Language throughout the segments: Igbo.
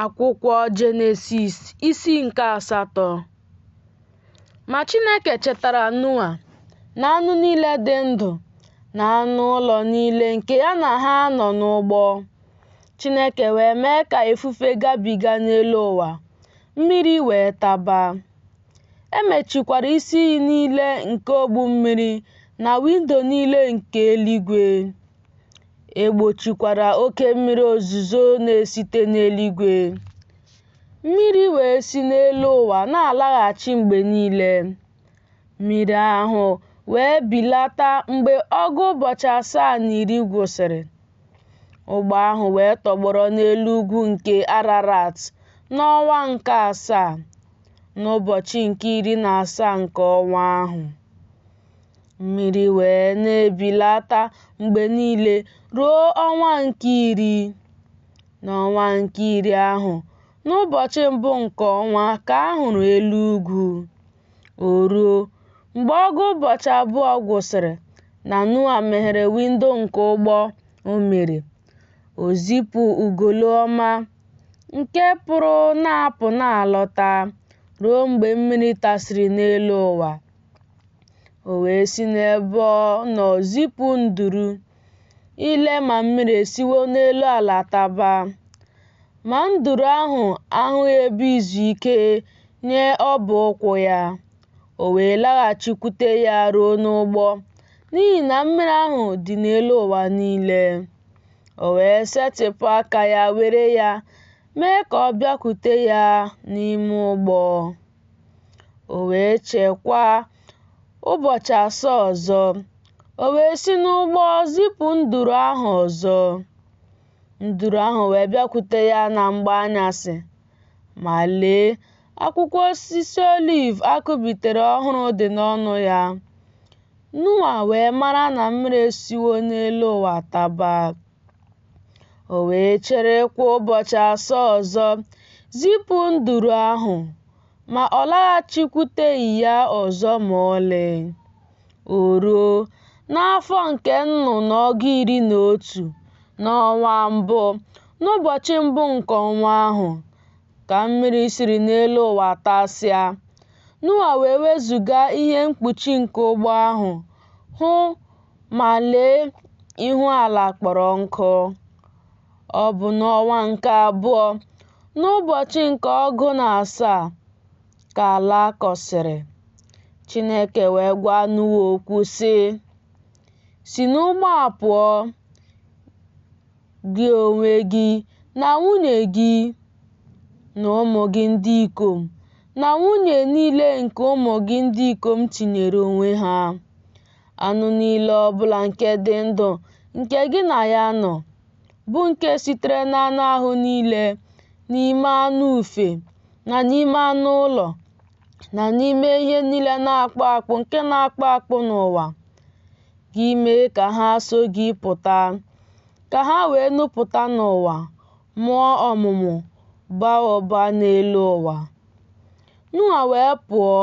Akwụkwọ Jenesis isi nke asatọ Ma Chineke chetara Noa na anụ niile dị ndụ na anụ ụlọ niile nke ya na ha nọ n'ụgbọ. Chineke wee mee ka ifufe gabiga n'elu ụwa, mmiri wee taba. E mechikwara isi iyi niile nke ogbu mmiri na windo niile nke eluigwe. E gbochikwara oke mmiri ozuzo na-esite n'eluigwe. Mmiri wee si n'elu ụwa na-alaghachi mgbe niile. Mmiri ahụ wee bilata mgbe ọgụ ụbọchị asaa na iri gwụsịrị. Ụgbọ ahụ wee tọgbọrọ n'elu ugwu nke Ararat n'ọnwa nke asaa, n'ụbọchị nke iri na asaa nke ọnwa ahụ. Mmiri wee na-ebilata mgbe niile ruo ọnwa nke iri. N'ọnwa nke iri ahụ, n'ụbọchị mbụ nke ọnwa ka a hụrụ elu ugwu. O ruo, mgbe ọgụ ụbọchị abụọ gwụsịrị na Noa meghere windo nke ụgbọ o mere, o zipụ ugolo ọma nke pụrụ na-apụ na-alọta ruo mgbe mmiri tasịrị n'elu ụwa. O wee si n'ebe ọ nọ zipụ nduru ile ma mmiri esiwo n'elu ala taba. Ma nduru ahụ ahụghị ebe izu ike nye ọbụ ụkwụ ya. O wee laghachikwute ya ruo n'ụgbọ, n'ihi na mmiri ahụ dị n'elu ụwa niile. O wee setịpụ aka ya were ya, mee ka ọ bịakwute ya n'ime ụgbọ. O wee chekwaa ụbọchị asaa ọzọ, o wee si n'ụgbọ zipụ nduru ahụ ọzọ. Nduru ahụ wee bịakwute ya na mgbe anyasị, ma lee, akwụkwọ osisi oliv a kụbitere ọhụrụ dị n'ọnụ ya. Noa wee mara na mmiri esiwo n'elu ụwa taba. O wee cherekwa ụbọchị asaa ọzọ, zipụ nduru ahụ, ma ọ laghachikwuteghị ya ọzọ ma ọlị. O ruo, n'afọ nke nnụ na ọgụ iri na otu, n'ọnwa mbụ, n'ụbọchị mbụ nke ọnwa ahụ, ka mmiri siri n'elu ụwa tasịa. Noa wee wezuga ihe mkpuchi nke ụgbọ ahụ, hụ Ma lee, ihu ala kpọrọ nkụ. Ọ bụ n'ọnwa nke abụọ, n'ụbọchị nke ọgụ na asaa, ka ala kọsịrị. Chineke wee gwa Noa okwu sị, Si n'ụgbọ a pụọ, gị onwe gị na nwunye gị na ụmụ gị ndị ikom na nwunye niile nke ụmụ gị ndị ikom tinyere onwe ha. anụ niile ọ bụla nke dị ndụ nke gị na ya nọ, bụ nke sitere n'anụ ahụ niile, n'ime anụ ufe, na n'ime anụ ụlọ, na n'ime ihe niile na-akpụ akpụ nke na-akpụ akpụ n'ụwa, gị mee ka ha so gị pụta, ka ha wee nupụta n'ụwa, mụọ ọmụmụ, baa ụba n'elu ụwa. Noa wee pụọ,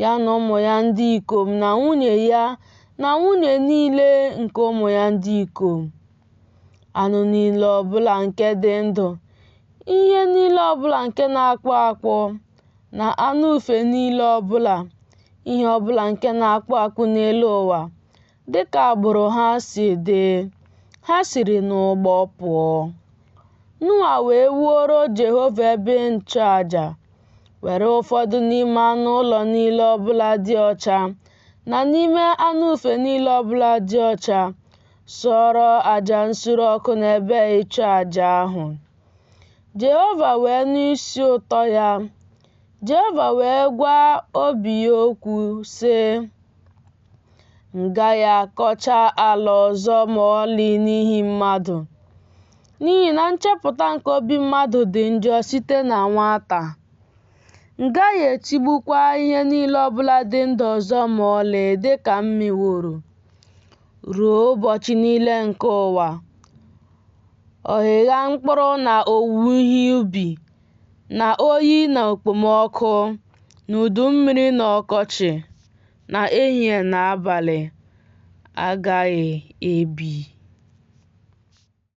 ya na ụmụ ya ndị ikom na nwunye ya na nwunye niile nke ụmụ ya ndị ikom. Anụ niile ọbụla nke dị ndụ, ihe niile ọbụla nke na-akpụ akpụ, na anụ ufe niile ọbụla, ihe ọbụla nke na-akpụ akpụ n'elu ụwa, dị ka agbụrụ ha si dị, ha siri n'ụgbọ pụọ. Noa wee wuoro Jehova ebe nchụaja, were ụfọdụ n'ime anụ ụlọ niile ọbụla dị ọcha na n'ime anụ ufe niile ọbụla dị ọcha sụọrọ aja nsure ọkụ n'ebe ịchụ aja ahụ. Jehova wee nụ isi ụtọ ya. Jehova wee gwa obi ya okwu, sị, M gaghị akọcha ala ọzọ ma ọlị n'ihi mmadụ, n'ihi na nchepụta nke obi mmadụ dị njọ site na nwata. M gaghị etigbukwa ihe niile ọbụla dị ndụ ọzọ ma ọlị dị ka m meworo ruo ụbọchị niile nke ụwa. Ọghịgha mkpụrụ na owuwe ihe ubi na oyi na okpomọkụ, na udu mmiri na ọkọchị, na ehihie na abalị agaghị ebi.